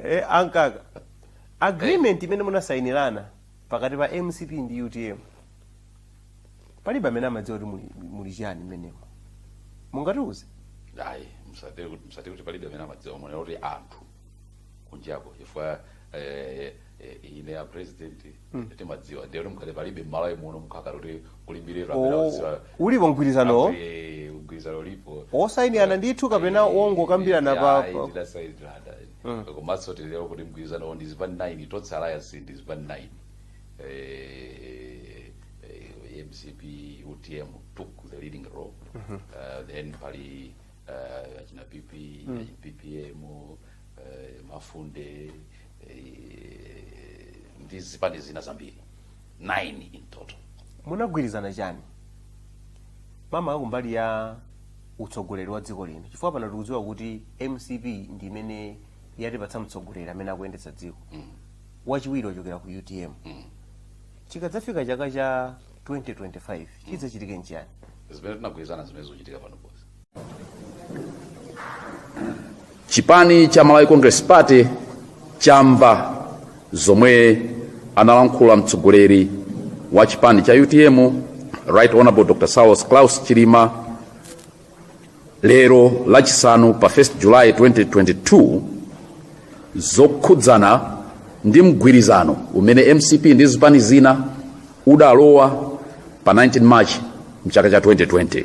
Eh, ankaka agreement imene munasayinirana pakati pa mcp ndi utm palibe amene amadziwa kuti muli, muli chiyani mmenemo mungatiuze ayi musatero kuti palibe amene amadziwa mwina kuti anthu kunjako chifukwa eh, eh, ine a president mm. timadziwa ndiye kuti mkhale palibe mmalawi muno mkhakala kuti kulimbire oh, ulipo mgwirizano mgwirizano ulipo osayinirana ndithu kapena wongokambirana pa mm. komanso titero kuti mgwirizano ndi zipani 9 tonse alliance ndi zipani 9 eh, eh, mcp utm took the leading role mm -hmm. uh, then pali uh, achina pp mm. ppm uh, mafunde ndi zipani zina zambiri 9 in total munagwirizana chani makamaka kumbali ya utsogoleri wa dziko lino chifukwa pano tikudziwa kuti mcp ndi imene yatipatsa mtsogoleri amene akuyendetsa dziko wachiwiri wochokera ku utm chikadzafika chaka cha 2025 chidzachitike nchiyani zimene tinagwirizana zimene zikuchitika pano chipani cha malawi congress party chamva zomwe analankhula mtsogoleri wa chipani cha utm right honorable dr saulos klaus chilima lero lachisanu pa 1 july 2022 zokhudzana ndi mgwirizano umene mcp ndi zipani zina udalowa pa 19 march mchaka cha 2020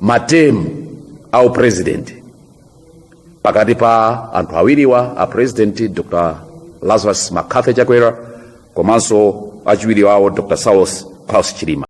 matermu a upresident pakati pa anthu awiriwa a president dr lazarus mccarthy chakwera komanso achiwiri wawo dr saulos klaus chilima